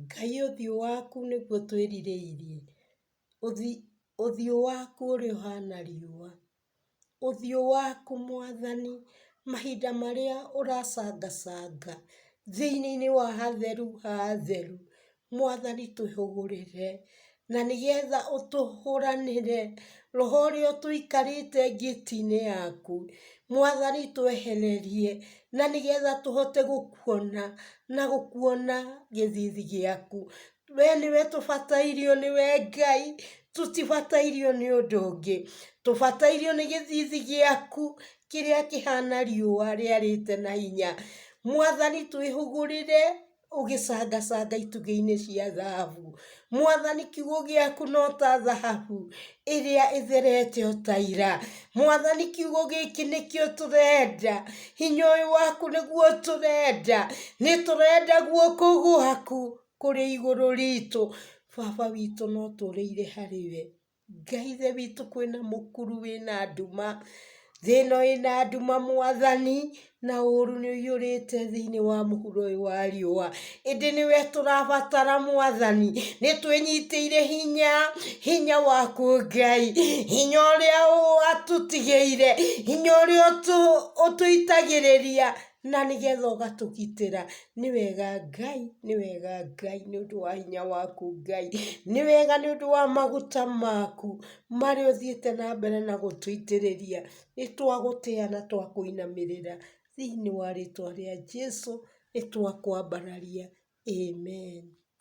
Ngai ũthiũ waku nĩguo twĩrirĩirie, ũthiũ waku ũrĩa ũhana riũa, ũthiũ waku mwathani, mahinda marĩa ũracangacanga thĩinĩ wa hatheru ha atheru, mwathani twĩhũgũrĩre, Na nĩgetha ũtũhũranĩre, roho ũrĩa ũtũikarĩte ngĩti-inĩ yaku, mwathani twehererie, na nĩgetha tũhote gũkuona, na gũkuona gĩthithi gĩaku. We nĩwe tũbatairio nĩwe Ngai, tũtibatairio nĩ ũndũ ũngĩ. Tũbatairio nĩ gĩthithi gĩaku, kĩrĩa kĩhana riũa rĩarĩte na hinya. Mwathani twĩhũgũrĩre. ũgĩcangacanga itugĩ-inĩ cia thahabu. Mwathani kiugo gĩaku no ta thahabu ĩrĩa ĩtherete o ta ira. Mwathani kiugo gĩkĩ nĩkĩo tũrenda, hinya ũyũ waku nĩguo tũrenda. Nĩ tũrenda guoko gwaku kũrĩ igũrũ ritũ. Baba witũ no tũũrĩire harĩ we. Ngai ithe witũ kwĩna mũkuru wĩna nduma, thĩ ĩno ĩna nduma mwathani, na ũrũ nĩ wũiyũrĩte thĩinĩ wa mũhuro ũyũ wa riũa, ĩndĩ nĩwe tũrabatara mwathani, nĩ twĩnyitĩire hinya, hinya waku Ngai, hinya ũrĩa watũtigĩire, hinya ũrĩa ũtũ ũtũitagĩrĩria. na nĩgetha ũgatũgitĩra, nĩ wega Ngai, nĩ wega Ngai nĩ ũndũ wa hinya waku Ngai, nĩ wega nĩ ũndũ wa maguta maku marĩa ũthiĩte na mbere na gũtũitĩrĩria, nĩ twagũtĩya na twakũinamĩrĩra, thĩiniĩ wa rĩtwa rĩa Jesũ nĩ twakwambararia, Amen.